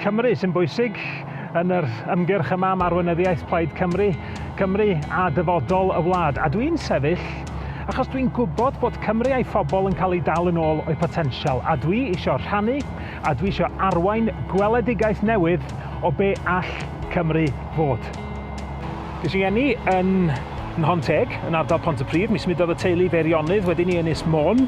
Cymru sy'n bwysig yn yr ymgyrch yma am arweinyddiaeth Plaid Cymru, Cymru a dyfodol y wlad. A dwi'n sefyll achos dwi'n gwybod bod Cymru a'i phobl yn cael ei dal yn ôl o'i potensial, a dwi isio rhannu a dwi isio arwain gweledigaeth newydd o be all Cymru fod. Bues i eni yn Nhon Teg, yn ardal Pontypridd, mi symudodd y teulu i Feirionnydd, wedyn i Ynys Môn.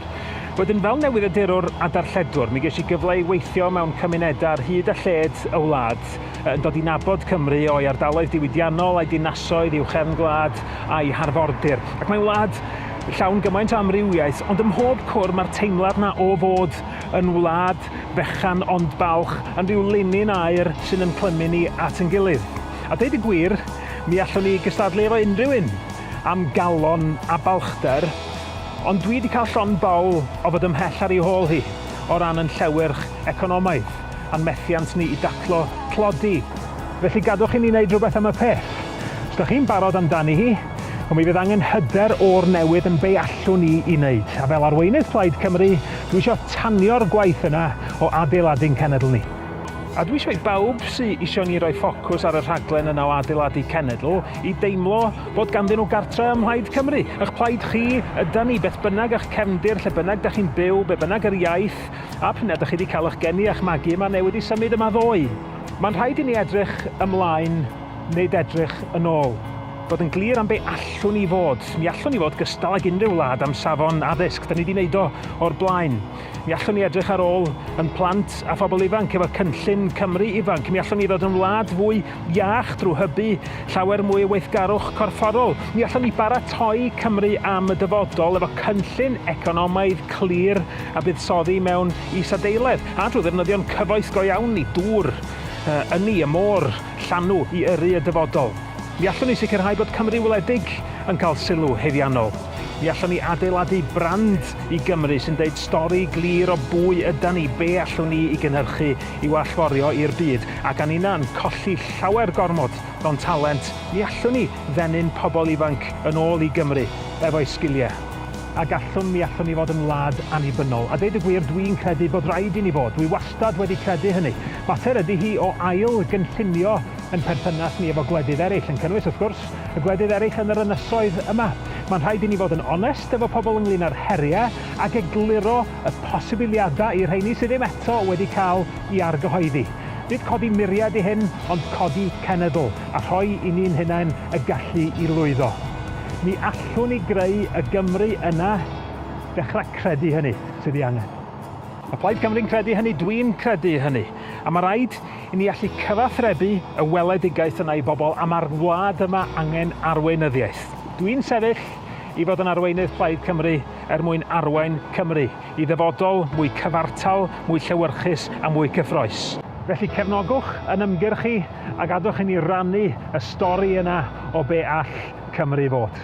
Wedyn fel newyddiadurwr a darlledwr, mi ges i gyfle i weithio mewn cymunedau ar hyd a lled y wlad, yn dod i nabod Cymru o'i ardaloedd diwydiannol, a'i dinasoedd, i'w chefn gwlad, a'i harfordir. Ac mae'n wlad llawn gymaint o amrywiaeth, ond ym mhob cwr mae'r teimlad 'na o fod yn wlad fechan ond balch, yn rhyw linyn aer sy'n ynclymu ni at ein gilydd. A deud y gwir, mi allwn ni gystadlu efo unrhyw un am galon a balchder, ond dwi 'di cael llond bawl o fod ymhell ar ei hôl hi o ran yn llewyrch economaidd a'n methiant ni i daclo tlodi. Felly gadwch i ni wneud rhywbeth am y peth. Os 'da chi'n barod amdani hi, wel mi fydd angen hyder o'r newydd yn be allwn ni i wneud. A fel arweinydd Plaid Cymru, dwi isio tanio'r gwaith yna o adeiladu'n cenedl ni. A dwi isio i bawb sy isio ni roi ffocws ar y rhaglen yna o adeiladu cenedl i deimlo bod ganddyn nhw gartre ym Mhlaid Cymru. Ych plaid chi ydan ni, beth bynnag ych cefndir, lle bynnag da chi'n byw, be bynnag yr iaith a p'un a da chi wedi cael ych geni a'ch magu yma neu wedi symud yma ddoe. Mae'n rhaid i ni edrych ymlaen, nid edrych yn ôl. Bod yn glir am be allwn ni fod. Mi allwn ni fod gystal ag unrhyw wlad am safon addysg, da ni wedi wneud o o'r blaen. Mi allwn ni edrych ar ôl yn plant a phobl ifanc efo cynllun Cymru Ifanc. Mi allwn ni ddod yn wlad fwy iach drwy hybu llawer mwy o weithgarwch corfforol. Mi allwn ni baratoi Cymru am y dyfodol efo cynllun economaidd clir a buddsoddi mewn isadeiledd a drwy ddefnyddio'n cyfoes go iawn ni, dŵr, ynni, y môr, llanw i yrru y dyfodol. Ni allwn ni sicrhau bod Cymru Wledig yn cael sylw haeddiannol. Ni allwn ni adeiladu brand i Gymru sy'n deud stori glir o bwy ydan ni, be allwn ni i gynhyrchu i'w allforio i'r byd, ac a ninnau'n colli llawer gormod o'n talent, ni allwn ni ddenu'n pobl ifanc yn ôl i Gymru efo'u sgiliau. A gallwn, mi allwn ni fod yn wlad annibynnol. A deud y gwir, dwi'n credu bod raid i ni fod. Dwi wastad wedi credu hynny. Mater ydi hi o ail gynllunio Ein perthynas ni efo gwledydd eraill yn cynnwys, wrth gwrs, y gwledydd eraill yn yr ynysoedd yma. Mae'n rhaid i ni fod yn onest efo pobl ynglŷn â'r heriau ac egluro y posibiliadau i'r rheini sydd ddim eto wedi cael i argyhoeddi. Nid codi muriau ydy hyn, ond codi cenedl, a rhoi i ni'n hunain y gallu i lwyddo. Mi allwn ni greu y Gymru yna, dechrau credu hynny, sydd ei angen. Mae Plaid Cymru'n credu hynny, dwi'n credu hynny, a mae rhaid I ni allu cyfathrebu y weledigaeth yna i bobl am ar wlad yma angen arweinyddiaeth. Dw i'n sefyll i fod yn arweinydd Plaid Cymru er mwyn arwain Cymru i ddyfodol mwy cyfartal, mwy llewyrchus a mwy cyffroes. Felly cefnogwch yn ymgyrch i a gadwch i ni rannu y stori yna o be all Cymru fod.